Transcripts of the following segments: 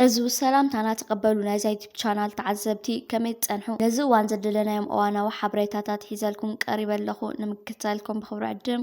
ሕዝቡ ሰላምታና ተቐበሉ ናይዛ ዩቲብ ቻናል ተዓዘብቲ ከመይ ትጸንሑ ነዚ እዋን ዘደለናዮም እዋናዊ ሓበሬታታት ሒዘልኩም ቀሪበ ኣለኹ ንምክታልኩም ብኽብሪ ዕድም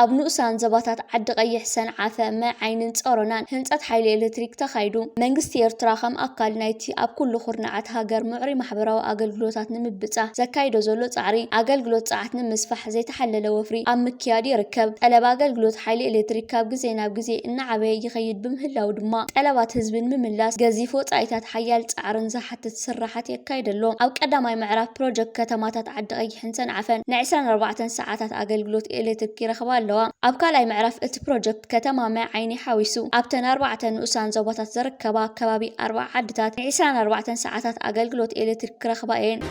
ኣብ ንኡሳን ዞባታት ዓዲ ቐይሕ፣ ሰንዓፈ፣ ማይ ዓይኒን ጸሮናን ህንጸት ሓይሊ ኤለትሪክ ተኻይዱ። መንግስቲ ኤርትራ ከም ኣካል ናይቲ ኣብ ኩሉ ኩርንዓት ሃገር ምዕሩይ ማሕበራዊ ኣገልግሎታት ንምብጻሕ ዘካይዶ ዘሎ ጻዕሪ፣ ኣገልግሎት ጸዓት ንምስፋሕ ዘይተሓለለ ወፍሪ ኣብ ምክያድ ይርከብ። ጠለብ ኣገልግሎት ሓይሊ ኤለትሪክ ካብ ግዜ ናብ ግዜ እናዓበየ ይኸይድ ብምህላዉ ድማ፣ ጠለባት ህዝቢ ንምምላስ ገዚፍ ወጻኢታትን ሓያል ጻዕርን ዝሓትት ስርሓት የካይድ ኣሎ። ኣብ ቀዳማይ ምዕራፍ ፕሮጀክት ከተማታት ዓዲ ቐይሕ፣ ሕንተን ዓፈን ን ዕስራን ኣርባዕተን ሰዓታት ኣገልግሎት ኤሌትሪክ ይረኽባ ኣለዋ። ኣብ ካልኣይ ምዕራፍ እቲ ፕሮጀክት ከተማ ማይ ዓይኒ ሓዊሱ ኣብተን ኣርባዕተ ንኡሳን ዞባታት ዝርከባ ከባቢ ኣርብዓ ዓድታት ን ዕስራን ኣርባዕተን ሰዓታት ኣገልግሎት ኤሌትሪክ ክረኽባ እየን።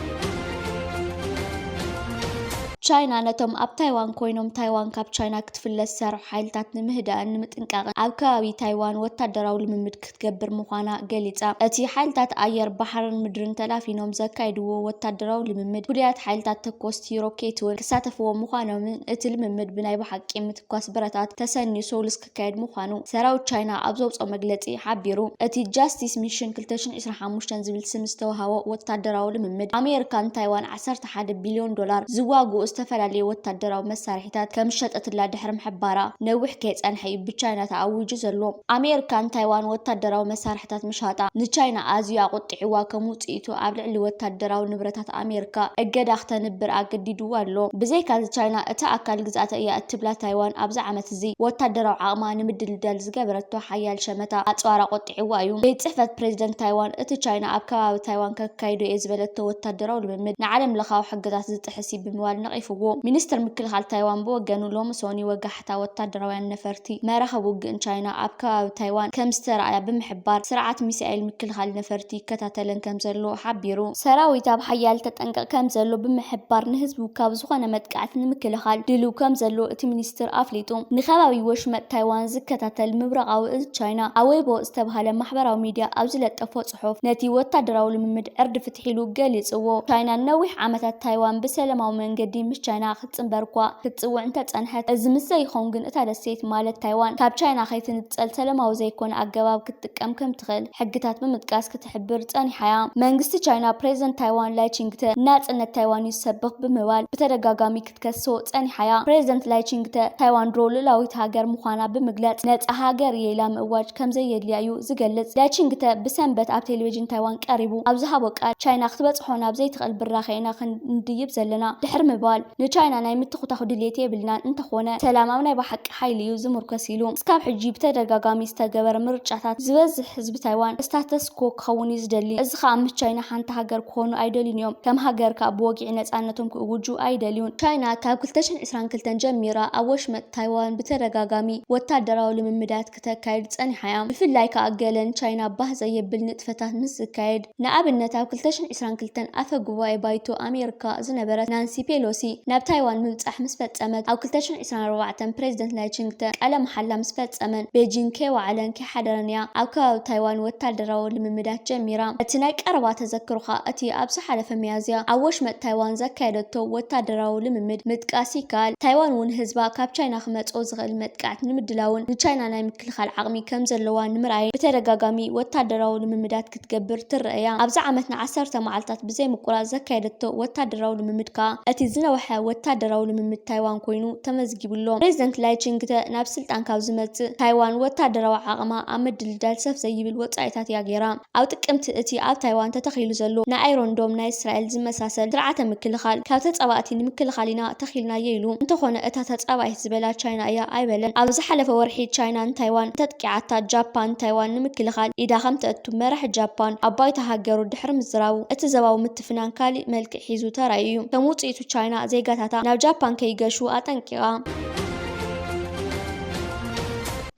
ቻይና ነቶም ኣብ ታይዋን ኮይኖም ታይዋን ካብ ቻይና ክትፍለ ዝሰርሑ ሓይልታት ንምህዳእን ንምጥንቃቕን ኣብ ከባቢ ታይዋን ወታደራዊ ልምምድ ትገብር ምዃና ገሊጻ። እቲ ሓይልታት ኣየር፣ ባሕርን ምድርን ተላፊኖም ዘካይድዎ ወታደራዊ ልምምድ፣ ፍሉያት ሓይልታት ተኮስቲ ሮኬት'ውን ክሳተፍዎ ምዃኖምን እቲ ልምምድ ብናይ ብሓቂ ምትኳስ ብረታት ተሰንዩ ሰሉስ ክካየድ ምዃኑ ሰራዊት ቻይና ኣብ ዘውጽኦ መግለጺ ሓቢሩ። እቲ ጃስቲስ ሚሽን ክልተ ሽሕን ዕስራን ሓሙሽተን ዝብል ስም ዝተወሃቦ ወታደራዊ ልምምድ፣ ኣሜሪካን ታይዋን ዓሰርተ ሓደ ቢልዮን ዶላር ዝዋግኡ ዝተፈላለዩ ወታደራዊ መሳርሒታት ከም ዝሸጠትላ ድሕሪ ምሕባራ፣ ነዊሕ ከይጸንሐ እዩ ብቻይና ተኣዊጁ ዘሎ። ኣሜርካ ንታይዋን ወታደራዊ መሳርሒታት ምሻጣ፣ ንቻይና ኣዝዩ ኣቑጢዕዋ ከም ውጽኢቱ ኣብ ልዕሊ ወታደራዊ ንብረታት ኣሜርካ እገዳ ክተንብር ኣገዲድዋ ኣሎ። ብዘይካዚ ቻይና እታ ኣካል ግዝኣተ እያ እትብላ ታይዋን ኣብዚ ዓመትዚ ወታደራዊ ዓቕማ ንምድልዳል ዝገበረቶ ሓያል ሸመታ ኣጽዋር ኣቑጢዑ። ኣጥቂዕዋ እዩ። ቤት ጽሕፈት ፕረዚደንት ታይዋን፣ እቲ ቻይና ኣብ ከባቢ ታይዋን ከካይዶ'የ ዝበለቶ ወታደራዊ ልምምድ፣ ንዓለምለኻዊ ሕግታት ዝጥሕስ'ዩ ብምባል ነቒፍዎ። ሚኒስተር ምክልኻል ታይዋን ብወገኑ፣ ሎሚ ሶኒ ወጋሕታ ወታደራውያን ነፈርቲ፣ መራኽብ ውግእን ቻይና ኣብ ከባቢ ታይዋን ከምዝተራእያ ብምሕባር፣ ስርዓት ሚሳኤል ምክልኻል ነፈርቲ ይከታተለን ከምዘሎ ሓቢሩ። ሰራዊት ኣብ ሓያል ተጠንቀቕ ከምዘሎ ብምሕባር፣ ንህዝቡ ካብ ዝኾነ መጥቃዕቲ ንምክልኻል ድሉው ከምዘሎ እቲ ሚኒስተር ኣረዲኡ። ሚኒስትር ኣፍሊጡ። ንከባቢ ወሽመጥ ታይዋን ዝከታተል ምብራቓዊ እዝ ቻይና ኣብ ዌይቦ ዝተብሃለ ማሕበራዊ ሚድያ ኣብ ዝለጠፎ ፅሑፍ ነቲ ወታደራዊ ልምምድ ዕርዲ ፍትሒ ኢሉ ገሊፅዎ። ቻይና ንነዊሕ ዓመታት ታይዋን ብሰለማዊ መንገዲ ምስ ቻይና ክትፅምበር'ኳ ክትፅውዕ እንተፀንሐት እዚ ምስ ዘይኸውን ግን እታ ደሴት ማለት ታይዋን ካብ ቻይና ከይትንፀል ሰለማዊ ዘይኮነ ኣገባብ ክትጥቀም ከምትኽእል ሕግታት ብምጥቃስ ክትሕብር ፀኒሓ'ያ። መንግስቲ ቻይና ፕሬዝደንት ታይዋን ላይቺንግተ ንናፅነት ታይዋን'ዩ ዝሰብኽ ብምባል ብተደጋጋሚ ክትከሶ ጸኒሓ'ያ። ፕረዚደንት ላይ ቺንግ-ተ፣ ታይዋን ድሮ ልኡላዊት ሃገር ምዃና ብምግላጽ፣ ነጻ ሃገር እየ ኢላ ምእዋጅ ከምዘየድልያ'ዩ ዝገልጽ። ላይ ቺንግ-ተ ብሰንበት ኣብ ቴሌቪዥን ታይዋን ቀሪቡ ኣብ ዝሃቦ ቃል፣ ቻይና ክትበጽሖ ናብ ዘይትኽእል ብራኸ ኢና ክንድይብ ዘለና ድሕሪ ምባል፣ ንቻይና ናይ ምትኹታኹ ድልየት የብልናን፣ እንተኾነ ሰላም ኣብ ናይ ብሓቂ ሓይሊ እዩ ዝምርኮስ ኢሉ። እስካብ ሕጂ ብተደጋጋሚ ዝተገበረ ምርጫታት፣ ዝበዝሕ ህዝቢ ታይዋን፣ ስታተስ-ኮ፣ ዩኔስኮ ክኸውን እዩ ዝደሊ። እዚ ከኣ ምስ ቻይና ሓንቲ ሃገር ክኾኑ ኣይደልዩን እዮም። ከም ሃገር ከኣ ብወግዒ ነጻነቶም ክእውጁ ኣይደልዩን። ቻይና ካብ ክልተ ሽሕን ዕስራን ክልተን ጀሚራ ኣብ ወሽመጥ ታይዋን ብተደጋጋሚ ወታደራዊ ልምምዳት ክተካይድ ጸኒሓ እያ። ብፍላይ ከኣ ገለ ንቻይና ባህ ዘየብል ንጥፈታት ምስ ዝካየድ። ንኣብነት ኣብ ክልተ ሽሕን ዕስራን ክልተን ኣፈ ጉባኤ ባይቶ ኣሜሪካ ዝነበረት ናንሲ ፔሎሲ ናብ ታይዋን ምብጻሕ ምስ ፈጸመት። ኣብ ክልተ ሽሕን ዕስራን ኣርባዕተን ፕረዚደንት ላይ ቺንግተ ቃለ መሓላ ምስ ፈጸመን ቤጂንግ ከይወዓለን ኣይተሓደረን እያ ኣብ ከባቢ ታይዋን ወታደራዊ ልምምዳት ጀሚራ። እቲ ናይ ቀረባ ተዘክሮኻ እቲ ኣብ ዝሓለፈ ሚያዝያ ኣብ ወሽመጥ ታይዋን ዘካየደቶ ወታደራዊ ልምምድ ምጥቃስ ይከኣል። ታይዋን እውን ህዝባ ካብ ቻይና ክመጽኦ ዝኽእል መጥቃዕቲ ንምድላውን ንቻይና ናይ ምክልኻል ዓቕሚ ከምዘለዋ ንምርኣይን ብተደጋጋሚ ወታደራዊ ልምምዳት ክትገብር ትረኣ እያ። ኣብዚ ዓመት ንዓሰርተ መዓልታት ብዘይ ምቁራጽ ዘካየደቶ ወታደራዊ ልምምድ ከኣ እቲ ዝነውሐ ወታደራዊ ልምምድ ታይዋን ኮይኑ ተመዝጊቡ ኣሎ። ፕረዚደንት ላይ ቺንግ-ተ ናብ ስልጣን ካብ ዝመጽእ፣ ታይዋን ወታደራዊ ዓቕማ ኣብ ምድልዳል ሰፍ ዘይብል ወጻኢታት እያ ገይራ። ኣብ ጥቅምቲ እቲ ኣብ ታይዋን ተተኺሉ ዘሎ ናይ ኣይሮን ዶም ናይ እስራኤል ዝመሳሰል ስርዓተ ምክልኻል ካብ ተጻባእቲ ንምክልኻል ኢና ተኺልናዮ ኢሉ። እንተኾነ እታ ተጻባኢት ዝበላ ቻይና እያ ኣይበለን። ኣብ ዝሓለፈ ወርሒ ቻይና ንታይዋን ቂዓታት ጃፓን ንታይዋን ንምክልኻል ኢዳ ከም ተእቱ መራሒ ጃፓን ኣብ ባይቶ ሃገሩ ድሕሪ ምዝራቡ፣ እቲ ዘባዊ ምትፍናን ካሊእ መልክዕ ሒዙ ተራእዩ እዩ። ከም ውጽኢቱ ቻይና ዜጋታታ ናብ ጃፓን ከይገሹ ኣጠንቂቓ።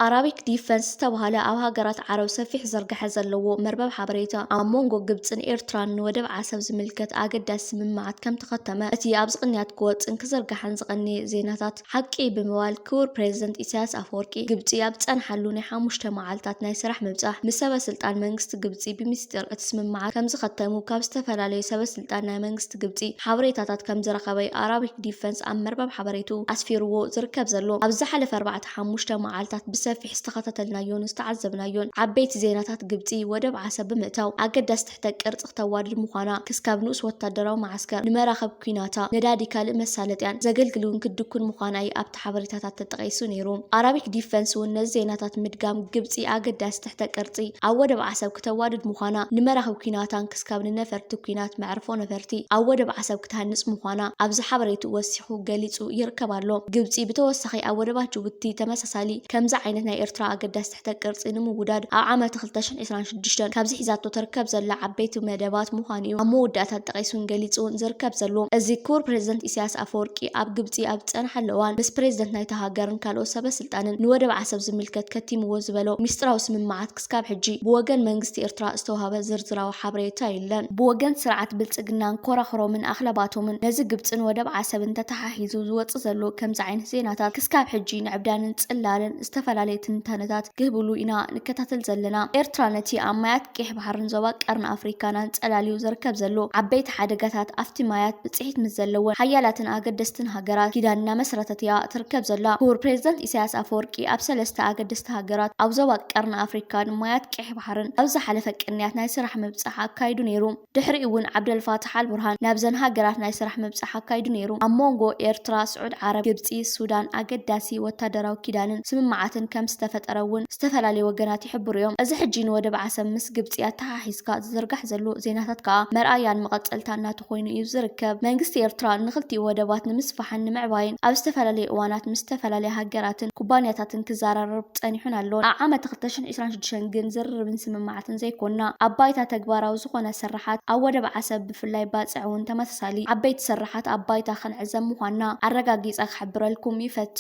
ኣራቢክ ዲፈንስ ዝተባህለ ኣብ ሃገራት ዓረብ ሰፊሕ ዝርግሐ ዘለዎ መርበብ ሓበሬታ፣ ኣብ ሞንጎ ግብጽን ኤርትራን ንወደብ ዓሰብ ዝምልከት ኣገዳሲ ስምምዓት ከምተኸተመ፣ እቲ ኣብዚ ቅንያት ክወጽእን ክዝርጋሕን ዝቐነየ ዜናታት፣ ሓቂ ብምባል ክቡር ፕረዚደንት ኢሳያስ ኣፈወርቂ ግብጺ ኣብ ዝጸንሓሉ ናይ ሓሙሽተ መዓልታት ናይ ስራሕ ምብጻሕ ምስ ሰበ ስልጣን መንግስቲ ግብጺ ብምስጢር እቲ ስምምዓት ከምዝኸተሙ ካብ ዝተፈላለዩ ሰበ ስልጣን ናይ መንግስቲ ግብጺ ሓበሬታታት ከምዝረኸበ'ዩ ኣራቢክ ዲፈንስ ኣብ መርበብ ሓበሬትኡ ኣስፊርዎ ዝርከብ ዘሎ። ኣብዚ ዝሓለፈ ኣርባዕተ ሓሙሽተ መዓልታት ብሰፊሕ ዝተኸታተልናዮን ዝተዓዘብናዮን ዓበይቲ ዜናታት ግብጺ ወደብ ዓሰብ ብምእታው ኣገዳሲ ክተቅር ጽክተዋድድ ምዃና፣ ክስካብ ንኡስ ወታደራዊ መዓስከር፣ ንመራኽብ ኲናታ፣ ነዳዲ ካልእ መሳለጥያን፣ ዘገልግልውን ክድኩን ምዃና'ዩ ኣብቲ ሓበሬታታት ተጠቒሱ ነይሩ። ኣራቢክ ዲፈንስ'ውን ነዚ ዜናታት ምድጋም፣ ግብጺ ኣገዳሲ ትሕተ-ቅርጺ ኣብ ወደብ ዓሰብ ክተዋድድ ምዃና፣ ንመራኽብ ኲናታን ክስካብ ንነፈርቲ ኲናት መዕርፎ ነፈርቲ ኣብ ወደብ ዓሰብ ክትሃንጽ ምዃና ኣብዚ ሓበሬትኡ ወሲኹ ገሊጹ ይርከብ ኣሎ። ግብጺ ብተወሳኺ ኣብ ወደባት ጅቡቲ ተመሳሳሊ ከምዚ ዓይነት ናይ ኤርትራ ኣገዳሲ ትሕተ ቅርጺ ንምውዳድ ኣብ ዓመት ክልተ ሽሕን ዒስራን ሽዱሽተን ካብዚ ሒዛቶ ተርከብ ዘላ ዓበይቲ መደባት ምዃኑ እዩ ኣብ መወዳእታ ጠቒሱን ገሊጹን ዝርከብ ዘሎ። እዚ ክቡር ፕረዚደንት ኢሳያስ ኣፈወርቂ ኣብ ግብጺ ኣብ ዝጸንሓሉ እዋን ምስ ፕረዚደንት ናይታ ሃገርን ካልኦት ሰበ ስልጣንን ንወደብ ዓሰብ ዝምልከት ከቲምዎ ዝበሎ ሚስጢራዊ ስምምዓት ክስካብ ሕጂ ብወገን መንግስቲ ኤርትራ ዝተዋህበ ዝርዝራዊ ሓበሬታ የለን። ብወገን ስርዓት ብልጽግናን ኮራኹሮምን ኣኽለባቶምን ነዚ ግብጽን ወደብ ዓሰብን ተተሓሒዙ ዝወጽእ ዘሎ ከምዚ ዓይነት ዜናታት ክስካብ ሕጂ ንዕብዳንን ጽላለን ዝተፈላለየ ትንታነታት ክህብሉ ኢና ንከታተል ዘለና። ኤርትራ ነቲ ኣብ ማያት ቄሕ ባሕርን ዞባ ቀርኒ ኣፍሪካን ኣንጸላልዩ ዝርከብ ዘሎ ዓበይቲ ሓደጋታት ኣብቲ ማያት ብጽሒት ምስ ዘለወን ሓያላትን ኣገደስትን ሃገራት ኪዳን እናመስረተት እያ ትርከብ ዘላ። ክቡር ፕሬዚደንት ኢሳያስ ኣፈወርቂ ኣብ ሰለስተ ኣገደስቲ ሃገራት ኣብ ዞባ ቀርኒ ኣፍሪካን ማያት ቄሕ ባሕርን ኣብ ዝሓለፈ ቅንያት ናይ ስራሕ ምብጻሕ ኣካይዱ ነይሩ። ድሕሪኡ እውን ዓብደልፋታሕ ኣልቡርሃን ናብዘን ሃገራት ናይ ስራሕ ምብጻሕ ኣካይዱ ነይሩ። ኣብ ሞንጎ ኤርትራ፣ ስዑድ ዓረብ፣ ግብጺ፣ ሱዳን ኣገዳሲ ወታደራዊ ኪዳንን ስምምዓትን ከም ዝተፈጠረ እውን ዝተፈላለዩ ወገናት ይሕብሩ እዮም። እዚ ሕጂ ንወደብ ዓሰብ ምስ ግብጺ ኣተሓሒዝካ ዝዝርጋሕ ዘሎ ዜናታት ከኣ መርኣያን መቐጸልታን ናቱ ኮይኑ እዩ ዝርከብ። መንግስቲ ኤርትራ ንክልቲኡ ወደባት ንምስፋሕን ንምዕባይን ኣብ ዝተፈላለየ እዋናት ምስ ዝተፈላለያ ሃገራትን ኩባንያታትን ክዘራረብ ጸኒሑን ኣሎን። ኣብ ዓመተ ክልተ ሽሕን ዒስራን ሽዱሽተን ግን ዝርርብን ስምምዓትን። ስርሓትን ዘይኮና። ኣብ ባይታ ተግባራዊ ዝኾነ ስርሓት ኣብ ወደብ ዓሰብ ብፍላይ ባጽዕ እውን ተመሳሳሊ ዓበይቲ ስርሓት ኣብ ባይታ ክንዕዘብ ምዃንና ኣረጋጊጸ ክሕብረልኩም ይፈቱ።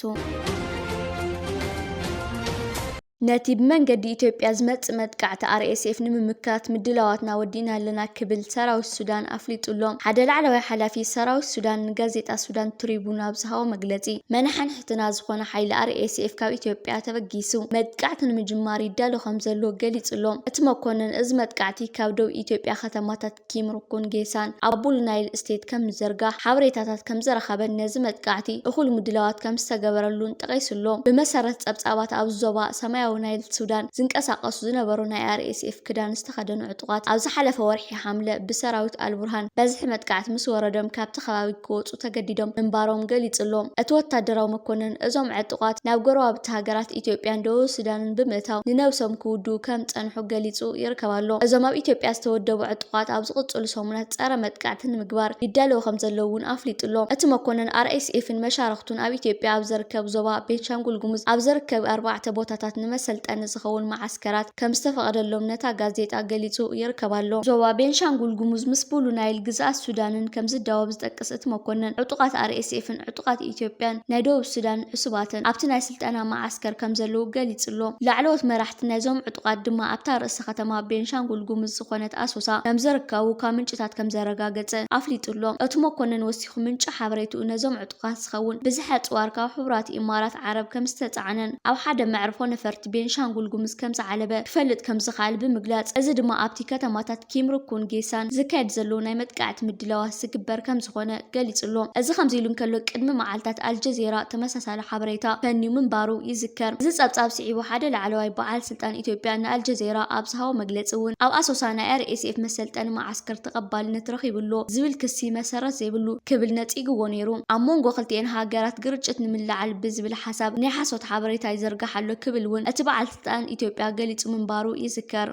ነቲ ብመንገዲ ኢትዮጵያ ዝመጽእ መጥቃዕቲ RSF ንምምካት ምድላዋትና ወዲእና ኣለና ክብል ሰራዊት ሱዳን ኣፍሊጡ ኣሎ። ሓደ ላዕለዋይ ሓላፊ ሰራዊት ሱዳን ንጋዜጣ ሱዳን ትሪቡን ኣብ ዝሃቦ መግለጺ መናሕን ሽፍትና ዝኾነ ሓይሊ RSF ካብ ኢትዮጵያ ተበጊሱ መጥቃዕቲ ንምጅማር ይዳሎ ከምዘሎ ገሊጹ'ሎ። እቲ መኮነን እዚ መጥቃዕቲ ካብ ዶብ ኢትዮጵያ ከተማታት ኪምሩኩን ጌሳን ኣብ ቡሉ ናይል ስቴት ከምዝዘርጋሕ ሓበሬታታት ከምዘረኸበን ነዚ መጥቃዕቲ እኹል ምድላዋት ከምዝተገበረሉን ጠቒሱ'ሎ። ብመሰረት ጸብጻባት ኣብዚ ዞባ ሰማያዊ ናይል ሱዳን ዝንቀሳቐሱ ዝነበሩ ናይ RSF ክዳን ዝተኸደኑ ዕጡቓት ኣብ ዝሓለፈ ወርሒ ሓምለ ብሰራዊት ኣልቡርሃን በዝሒ መጥቃዕቲ ምስወረዶም ካብቲ ከባቢ ክወጹ ክወጹ ተገዲዶም ምንባሮም ገሊጹ'ሎ። እቲ ወታደራዊ መኮነን፣ እዞም ዕጡቓት ናብ ጎረባብቲ ሃገራት ኢትዮጵያን ደቡብ ሱዳንን ብምእታው ንነብሶም ክውድኡ ከም ዝጸንሑ ገሊጹ ይርከብ ኣሎ። እዞም ኣብ ኢትዮጵያ ዝተወደቡ ዕጡቓት ኣብ ዝቕጽሉ ሰሙናት ጸረ መጥቃዕቲ ንምግባር ይዳለዉ ከም ዘለዉ'ውን ኣፍሊጡ'ሎ። እቲ መኮነን፣ ኣርኤስኤፍን መሻርኽቱን ኣብ ኢትዮጵያ ኣብ ዝርከብ ዞባ ቤንሻንጉል ጉሙዝ ኣብ ዝርከብ ኣርባዕተ ቦታታት ንመሰልጠኒ ዝኸውን መዓስከራት ከም ዝተፈቐደሎም ነታ ጋዜጣ ገሊጹ ይርከብ ኣሎ። ዞባ ቤንሻንጉል ጉሙዝ ምስ ብሉ ናይል ግዝኣት ሱዳንን ከም ዝዳወብ፣ ዝጠቅስ እቲ መኮነን፣ ዕጡቓት ኣርኤስኤፍን ዕጡቓት ኢትዮጵያን ናይ ደቡብ ሱዳን ዕሱባትን ኣብቲ ናይ ስልጠና መዓስከር ከምዘለዉ ገሊጹ'ሎ። ላዕለዎት መራሕቲ ናይዞም ዕጡቓት ድማ ኣብታ ርእሰ ከተማ ቤንሻንጉል ጉሙዝ ዝኾነት ኣሶሳ ከምዝርከቡ ካብ ምንጭታት ከምዘረጋገጸ ኣፍሊጡ'ሎ። እቲ መኮነን ወሲኹ ምንጪ ሓበሬትኡ ነዞም ዕጡቓት ዝኸውን ብዝሒ ኣጽዋር ካብ ሕቡራት ኢማራት ዓረብ ከምዝተጻዕነን ኣብ ሓደ መዕርፎ ነፈርቲ ቤንሻንጉል ጉሙዝ ከምዝዓለበ ክፈልጥ ከምዝኸኣል ብምግላጽ እዚ ድማ ኣብቲ ከተማታት ኪምሩኩን ጌሳን ዝካየድ ዘሎ ናይ መጥቃዕቲ ምድላዋት ዝግበር ከምዝኾነ ገሊጹ'ሎ። እዚ ከምዚ'ሉ እንከሎ ቅድሚ መዓልታት ኣልጀዚራ ተመሳሳሊ ሓበሬታ ፈንዩ ምንባሩ ይዝከር። እዚ ጸብጻብ ስዒቡ ሓደ ላዕለዋይ በዓል ስልጣን ኢትዮጵያ ንኣልጀዚራ ኣብ ዝሃቦ መግለጺ'ውን ኣብ ኣሶሳ ናይ ኣርኤስኤፍ መሰልጠኒ መዓስከር ተቐባልነት ረኺቡ'ሎ ዝብል ክሲ መሰረት ዘይብሉ ክብል ነጺግዎ ነይሩ። ኣብ ሞንጎ ክልቲኤን ሃገራት ግርጭት ንምልዓል ብዝብል ሓሳብ ናይ ሓሶት ሓበሬታ ይዝርጋሕ ኣሎ ክብል'ውን እቲ በዓል ስልጣን ኢትዮጵያ ገሊጹ ምንባሩ ይዝከር።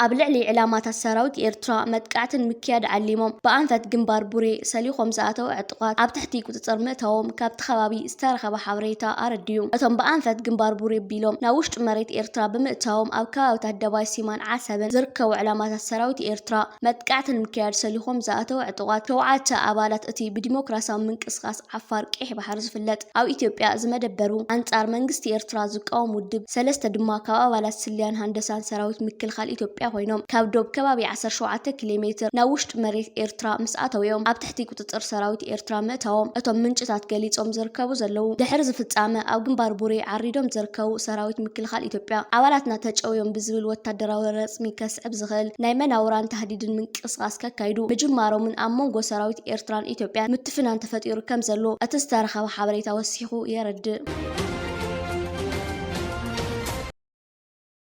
ኣብ ልዕሊ ዕላማታት ሰራዊት ኤርትራ መጥቃዕቲ ንምክያድ ዓሊሞም ብኣንፈት ግንባር ቡሬ ሰሊኾም ዝኣተው ዕጡቓት ኣብ ትሕቲ ቁፅፅር ምእታዎም ካብቲ ከባቢ ዝተረኸበ ሓበሬታ ኣረድዩ። እቶም ብኣንፈት ግንባር ቡሬ ቢሎም ናብ ውሽጢ መሬት ኤርትራ ብምእታዎም ኣብ ከባቢታት ደባይ ሲማን ዓሰብን ዝርከቡ ዕላማታት ሰራዊት ኤርትራ መጥቃዕቲ ንምክያድ ሰሊኾም ዝኣተው ዕጡቓት ሸውዓተ ኣባላት እቲ ብዲሞክራሲያዊ ምንቅስቃስ ዓፋር ቀይሕ ባሕሪ ዝፍለጥ ኣብ ኢትዮጵያ ዝመደበሩ ኣንጻር መንግስቲ ኤርትራ ዝቃወም ውድብ ሰለስተ ድማ ካብ ኣባላት ስልያን ሃንደሳን ሰራዊት ምክልኻል ኢትዮጵያ ኮይኖም ካብ ዶብ ከባቢ ዓሰርተ ሸውዓተ ኪሌ ሜትር ናብ ውሽጢ መሬት ኤርትራ ምስ ኣተው'ዮም ኣብ ትሕቲ ቁጽጽር ሰራዊት ኤርትራ ምእታዎም እቶም ምንጭታት ገሊጾም ዝርከቡ ዘለዉ። ድሕሪ እዚ ፍጻመ ኣብ ግንባር ቡሬ ዓሪዶም ዝርከቡ ሰራዊት ምክልኻል ኢትዮጵያ ኣባላትና ተጨውዮም ብዝብል ወታደራዊ ረጽሚ ከስዕብ ዝኽእል ናይ መናውራን ታህዲድን ምንቅስቓስ ከካይዱ ምጅማሮምን ኣብ መንጎ ሰራዊት ኤርትራን ኢትዮጵያን ፍናን ተፈጢሩ ከም ዘሎ እቲ ዝተረኸበ ሓበሬታ ወሲኹ የረድእ።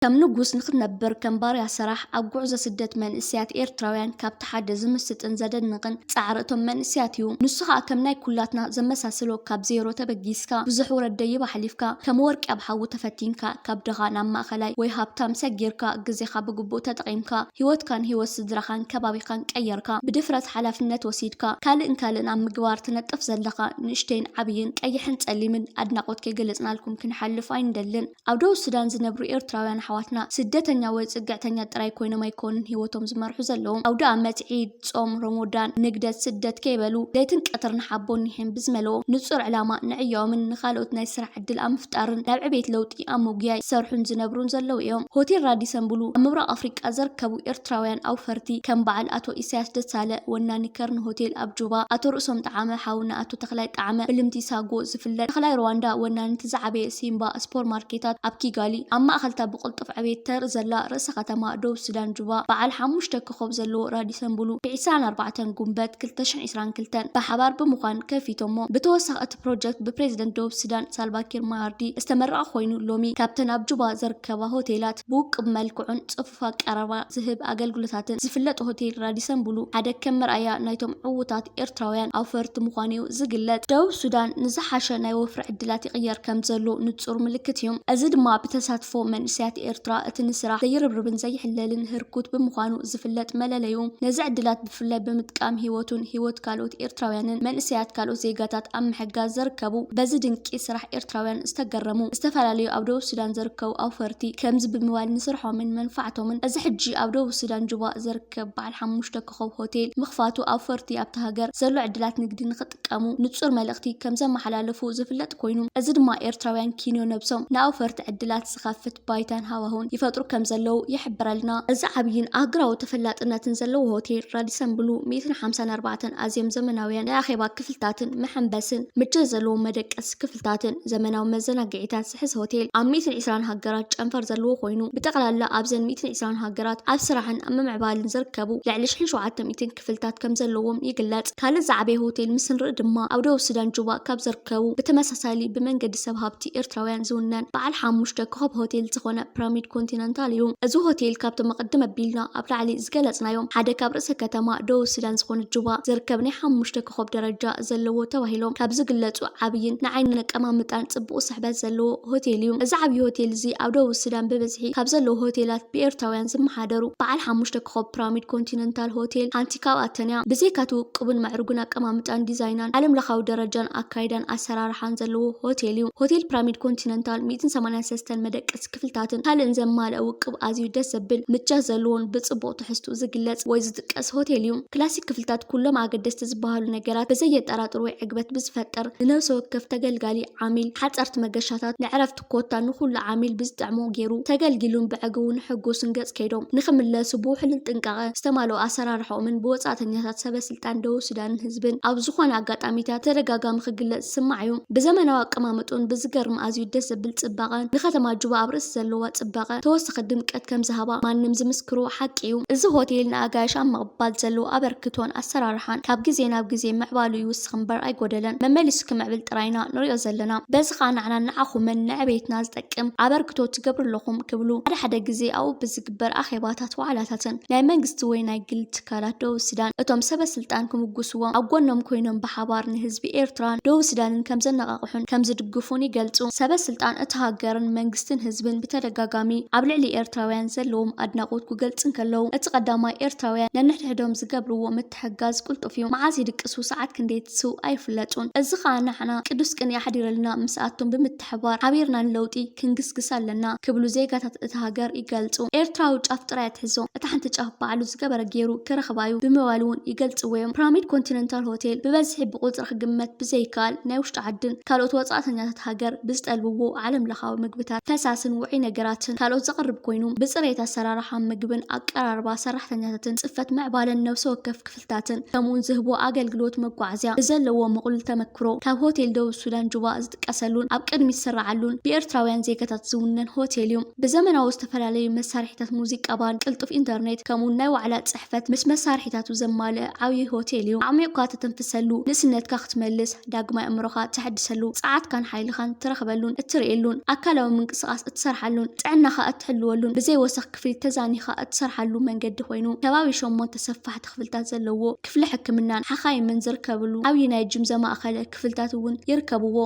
ከም ንጉስ ንክትነብር ከም ባርያ ሰራሕ ኣብ ጉዕዞ ስደት መንእስያት ኤርትራውያን ካብቲ ሓደ ዝምስጥን ዘደንቕን ጻዕሪ እቶም መንእስያት እዩ። ንሱ ከዓ ከም ናይ ኩላትና ዘመሳስሎ ካብ ዜሮ ተበጊስካ ብዙሕ ውረድ ደይብ ኣሕሊፍካ ከም ወርቂ ኣብ ሓዊ ተፈቲንካ ካብ ድኻ ናብ ማእኸላይ ወይ ሃብታም ሰጊርካ ግዜኻ ብግቡእ ተጠቒምካ ህይወትካን ህይወት ስድራኻን ከባቢኻን ቀይርካ ብድፍረት ሓላፍነት ወሲድካ ካልእን ካልእን ኣብ ምግባር ትነጥፍ ዘለኻ ንእሽተይን ዓብይን ቀይሕን ፀሊምን ኣድናቆት ከይገለፅናልኩም ክንሓልፍ ኣይንደልን። ኣብ ደቡብ ሱዳን ዝነብሩ ኤርትራውያን ኣሕዋትና ስደተኛ ወይ ፅግዕተኛ ጥራይ ኮይኖም ኣይኮኑን ሂወቶም ዝመርሑ ዘለዉ። ኣውደኣመት፣ ዒድ፣ ፆም ሮሞዳን፣ ንግደት፣ ስደት ከይበሉ ለይትን ቀትርን ሓቦን ኒሕን ብዝመልኦ ንፁር ዕላማ ንዕዮኦምን ንኻልኦት ናይ ስራሕ ዕድል ኣብ ምፍጣርን ናብ ዕቤት ለውጢ ኣብ ምጉያይ ዝሰርሑን ዝነብሩን ዘለዉ እዮም። ሆቴል ራዲሰን ብሉ ኣብ ምብራቕ ኣፍሪቃ ዘርከቡ ኤርትራውያን ኣውፈርቲ ከም በዓል ኣቶ ኢሳያስ ደሳለ ወናኒ ከርን ሆቴል ኣብ ጁባ፣ ኣቶ ርእሶም ጠዓመ፣ ሓውና ኣቶ ተኽላይ ጠዓመ፣ ብልምቲ ሳጎ ዝፍለጥ ተኽላይ ሩዋንዳ ወናኒ እቲ ዝዓበየ ሲምባ ስፖር ማርኬታት ኣብ ኪጋሊ፣ ኣብ ማእከልታ ብቕልጡፍ ዕቤት ተርኢ ዘላ ርእሰ ከተማ ደቡብ ሱዳን ጁባ፣ በዓል ሓሙሽተ ኮኾብ ዘለዎ ራዲሰን ብሉ ብ ዕስራን ኣርባዕተን ጉንበት ክልተ ሽሕን ዕስራን ክልተን ብሓባር ብምዃን ከፊቶሞ። ብተወሳኺ እቲ። ፕሮጀክት ብፕሬዝደንት ደቡብ ሱዳን ሳልቫኪር ማያርዲ ዝተመረቐ ኮይኑ ሎሚ ካብተን ኣብ ጁባ ዝርከባ ሆቴላት ብውቅብ መልክዑን ፅፉፍ ኣቀራርባ ዝህብ ኣገልግሎታትን ዝፍለጥ ሆቴል ራዲሰን ብሉ ሓደ ከም መርኣያ ናይቶም ዕዉታት ኤርትራውያን ኣውፈርቲ ምዃኑ እዩ ዝግለፅ። ደቡብ ሱዳን ንዝሓሸ ናይ ወፍሪ ዕድላት ይቕየር ከምዘሎ ንፁር ምልክት እዩ። እዚ ድማ ብተሳትፎ መንእሰያት ኤርትራ እቲ ንስራሕ ዘይርብርብን ዘይሕለልን ህርኩት ብምዃኑ ዝፍለጥ መለለዩ ነዚ ዕድላት ብፍላይ ብምጥቃም ሂወቱን ሂወት ካልኦት ኤርትራውያንን መንእሰያት ካልኦት ዜጋታት ኣብ ምሕጋዝ ዘርከቡ በዚ ድንቂ ስራሕ ኤርትራውያን ዝተገረሙ ዝተፈላለዩ ኣብ ደቡብ ሱዳን ዘርከቡ ኣውፈርቲ ከምዚ ብምባል ንስርሖምን መንፋዕቶምን እዚ ሕጂ ኣብ ደቡብ ሱዳን ጁባ ዘርከብ በዓል ሓሙሽተ ኮኾብ ሆቴል ምኽፋቱ ኣውፈርቲ ኣብታ ሃገር ዘሎ ዕድላት ንግዲ ክጥቀሙ ንጹር መልእኽቲ ከም ዘመሓላለፉ ዝፍለጥ ኮይኑ፣ እዚ ድማ ኤርትራውያን ኪንዮ ነብሶም ንኣውፈርቲ ዕድላት ዝኸፍት ባይታን ሃዋህውን ይፈጥሩ ከም ዘለዉ ይሕብረልና። እዚ ዓብይን ኣህጉራዊ ተፈላጥነትን ዘለዎ ሆቴል ራዲሰን ብሉ ሚእትን ሓምሳን ኣርባዕተን ኣዝዮም ዘመናውያን ናይ ኣኼባ ክፍልታትን መሐንበስን፣ ምቾት ዘለዎም መደቀሲ ክፍልታትን ዘመናዊ መዘናግዒታት ዝሕዝ ሆቴል ኣብ ሚእትን ዕስራን ሃገራት ጨንፈር ዘለዎ ኮይኑ፣ ብጠቕላላ ኣብዘን ሚእትን ዕስራን ሃገራት ኣብ ስራሕን ኣብ ምምዕባልን ዝርከቡ ልዕሊ ሽሕን ሸውዓተ ሚእትን ክፍልታት ከምዘለዎም ይግለጽ። ካልእ ዝዓበየ ሆቴል ምስ ንርኢ ድማ ኣብ ደቡብ ሱዳን ጁባ ካብ ዝርከቡ ብተመሳሳሊ ብመንገዲ ሰብ ሃብቲ ኤርትራውያን ዝውነን በዓል ሓሙሽተ ኮኾብ ሆቴል ዝኾነ ፕራሚድ ኮንቲነንታል እዩ። እዚ ሆቴል ካብቶም ቕድም ኣቢልና ኣብ ላዕሊ ዝገለጽናዮም ሓደ ካብ ርእሰ ከተማ ደቡብ ሱዳን ዝኾነት ጁባ ዝርከብ ናይ ሓሙሽተ ኮኾብ ደረጃ ዘለዎ ተባሂሎም ካብ ዝግለጹ ዓብይን ንዓይኒ ነቀማምጣን ጽቡቕ ስሕበት ዘለዎ ሆቴል እዩ። እዚ ዓብይ ሆቴል እዚ ኣብ ደቡብ ሱዳን ብብዝሒ ካብ ዘለዉ ሆቴላት ብኤርትራውያን ዝመሓደር እዩ። ዝመሓደሩ በዓል ሓሙሽተ ኮኾብ ፕራሚድ ኮንቲነንታል ሆቴል ሓንቲ ካብኣተን'ያ። ብዘይካ'ቲ ውቁብን ምዕሩግን ኣቀማምጣን ዲዛይናን፣ ዓለምለኻዊ ደረጃን ኣካይዳን ኣሰራርሓን ዘለዎ ሆቴል'ዩ። ሆቴል ፕራሚድ ኮንቲነንታል ሚእትን ሰማንያን ሰስተን መደቀሲ ክፍልታትን ካልእን ዘማልኣ ውቁብ ኣዝዩ ደስ ዘብል ምቸት ዘለዎን ብጽቡቕ ትሕዝትኡ ዝግለጽ ወይ ዝጥቀስ ሆቴል'ዩ። ክላሲክ ክፍልታት ኩሎም ኣገደስቲ ዝበሃሉ ነገራት ብዘየጠራጥር ወይ ዕግበት ብዝፈጥር፣ ንነብሰ ወከፍ ተገልጋሊ፣ ዓሚል፣ ሓጸርቲ መገሻታት፣ ንዕረፍቲ፣ ኮታ ንኹሉ ዓሚል ብዝጥዕሞ ገይሩ ተገልጊሉን ብዐግውን ሕጉስን ገፅ ከይዶም ንክምለሱ ብውሕሉል ጥንቃቐ ዝተማልኦ ኣሰራርሐኦምን ብወፃእተኛታት ሰበ ስልጣን ደቡብ ሱዳንን ህዝብን ኣብ ዝኾነ ኣጋጣሚታት ተደጋጋሚ ክግለፅ ዝስማዕ እዩ። ብዘመናዊ ኣቀማምጥኡን ብዝገርም ኣዝዩ ደስ ዘብል ፅባቐን ንከተማ ጁባ ኣብ ርእሲ ዘለዋ ፅባቐ ተወሳኺ ድምቀት ከምዝሃባ ማንም ዝምስክሮ ሓቂ እዩ። እዚ ሆቴል ንኣጋይሽ ኣብ ምቕባል ዘለዎ ኣበርክቶን ኣሰራርሓን ካብ ግዜ ናብ ግዜ ምዕባሉ ይውስኽ። ንውድቕቲ እምበር ኣይጎደለን መመሊሱ ክምዕብል ጥራይ ኢና ንሪኦ ዘለና በዚ ከኣ ንዓናን ንዓኹምን ንዕቤትና ዝጠቅም ኣበርክቶ ትገብሩ ኣለኹም ክብሉ ሓደ ሓደ ግዜ ኣብኡ ብዝግበር ኣኼባታት ዋዕላታትን ናይ መንግስቲ ወይ ናይ ግሊ ትካላት ደቡብ ስዳን እቶም ሰበ ስልጣን ክምጉስዎም ኣብ ጎኖም ኮይኖም ብሓባር ንህዝቢ ኤርትራን ደቡብ ስዳንን ከምዘነቓቕሑን ከምዝድግፉን ይገልጹ ሰበ ስልጣን እታ ሃገርን መንግስትን ህዝብን ብተደጋጋሚ ኣብ ልዕሊ ኤርትራውያን ዘለዎም ኣድናቖት ኩገልጽ እንከለዉ እቲ ቀዳማይ ኤርትራውያን ነንሕድሕዶም ዝገብርዎ ምትሕግጋዝ ቅልጡፍ እዩ። መዓስ ይድቅሱ ሰዓት ክንደይ ትስው ኣይፍለጡን። እዚ ከኣ ንዓና ቅዱስ ቅንኢ ኣሕዲረልና ምስኣቶም ብምትሕብባር ሓቢርና ንለውጢ ክንግስግስ ኣለና ክብሉ ዜጋታት እታ ሃገር ይገልጹ። ኤርትራዊ ጫፍ ጥራይ ኣትሕዞ እታ ሓንቲ ጫፍ ባዕሉ ዝገበረ ጌሩ ክረኽባ እዩ ብምባል'ውን ይገልጽዎ'ዮም። ፕራሚድ ኮንቲነንታል ሆቴል ብበዝሒ ብቁጽሪ ክግመት ብዘይከኣል ናይ ውሽጢ ዓድን ካልኦት ወጻእተኛታት ሃገር ብዝጠልብዎ ዓለምለኻዊ ምግብታት፣ ፈሳስን ውዑይ ነገራትን ካልኦት ዘቕርብ ኮይኑ ብጽሬት ኣሰራርሓ ምግብን ኣቀራርባ ሰራሕተኛታትን ንጽፈት ምዕባለን ነብሲ ወከፍ ክፍልታትን ከምኡውን ዝህቦ ኣገልግሎት መጓዓዝያ ብዘለዎ ምቕሉል ተመክሮ ካብ ሆቴል ደቡብ ሱዳን ጁባ ዝጥቀሰሉን ኣብ ቅድሚት ዝስራዓሉን ብኤርትራውያን ዜጋታት ዝውነን ሆቴል እዩ። ብዘመናዊ ዝተፈላለዩ መሳርሒታት ሙዚቃ ባንድ ቅልጡፍ ኢንተርኔት ከምኡውን ናይ ዋዕላ ጽሕፈት ምስ መሳርሒታቱ ዘማልአ ዓብዩይ ሆቴል እዩ። ኣዕሚቑካ ተተንፍሰሉ፣ ንእስነትካ ክትመልስ፣ ዳግማይ ኣእምሮኻ ተሐድሰሉ፣ ጸዓትካን ሓይልኻን ትረኽበሉን እትርእየሉን፣ ኣካላዊ ምንቅስቓስ እትሰርሓሉን ጥዕናኻ እትሕልወሉን ብዘይ ወሰኽ ክፍሊ ተዛኒኻ እትሰርሓሉ መንገዲ ኮይኑ፣ ከባቢ ሸሞንተ ሰፋሕቲ ክፍልታት ዘለዎ ክፍሊ ሕክምናን ሓኻይምን ዝርከብሉ ዓብዪ ናይ ጂም ዘማእኸለ ክፍልታት እውን ይርከብዎ።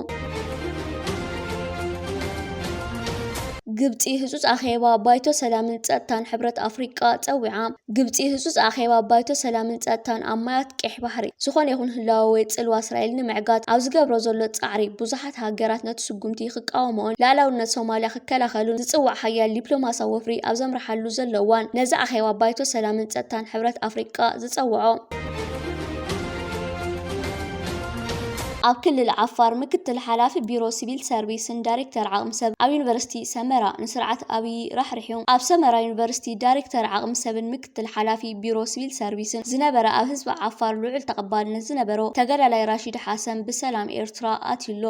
ግብፂ ህፁፅ ኣኼባ ባይቶ ሰላምን ፀጥታን ሕብረት ኣፍሪቃ ፀዊዓ። ግብፂ ህፁፅ ኣኼባ ባይቶ ሰላምን ፀጥታን ኣብ ማያት ቄሕ ባሕሪ ዝኾነ ይኹን ህላወ ወይ ፅልዋ እስራኤል ንምዕጋት ኣብ ዝገብሮ ዘሎ ፃዕሪ ብዙሓት ኣባላት ሃገራት ነቲ ስጉምቲ ክቃወምኦን ልኣላውነት ሶማልያ ክከላኸሉን ዝጽዋዕ ሓያል ዲፕሎማስያዊ ወፍሪ ኣብ ዘምርሓሉ ዘሎ እዋን፣ ነዚ ኣኼባ ባይቶ ሰላምን ጸጥታን ሕብረት ኣፍሪቃ ዝጸውዖ፣ ኣብ ክልል ዓፋር ምክትል ሓላፊ ቢሮ ሲቪል ሰርቪስን ዳይሬክተር ዓቕሚ ሰብ ኣብ ዩኒቨርሲቲ ሰመራ ንስርዓት ኣብዪ ራሕሪሑ። ኣብ ሰመራ ዩኒቨርሲቲ ዳይሬክተር ዓቕሚ ሰብን ምክትል ምክትል ሓላፊ ቢሮ ስቪል ሰርቪስን ዝነበረ ኣብ ህዝቢ ዓፋር ልዑል ተቐባልነት ዝነበሮ ተጋዳላይ ራሺድ ሓሰን ብሰላም ኤርትራ ኣትዩ ኣሎ።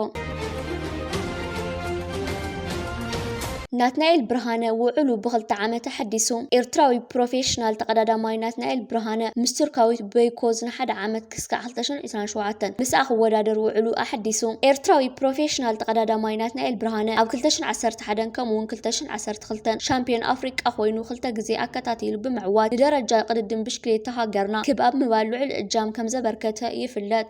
ናትናኤል ብርሃነ ውዕሉ ብክልተ ዓመት ኣሐዲሱ። ኤርትራዊ ፕሮፌሽናል ተቐዳዳማይ ናትናኤል ብርሃነ ምስ ቱርካዊት በይኮዝ ንሓደ ዓመት ክስካዕ ክልተ ሽሕን ዒስራን ሸውዓተን ምስኣ ክወዳደር ውዕሉ ኣሐዲሱ። ኤርትራዊ ፕሮፌሽናል ተቐዳዳማይ ናትናኤል ብርሃነ ኣብ ክልተ ሽሕን ዓሰርተ ሓደን ከምኡ'ውን ክልተ ሽሕን ዓሰርተ ክልተን ሻምፕዮን ኣፍሪቃ ኮይኑ ክልተ ግዜ ኣከታቲሉ ብምዕዋት ንደረጃ ቅድድም ብሽክሌታ ሃገርና ክብ ኣብ ምባል ልዑል እጃም ከምዘበርከተ ይፍለጥ።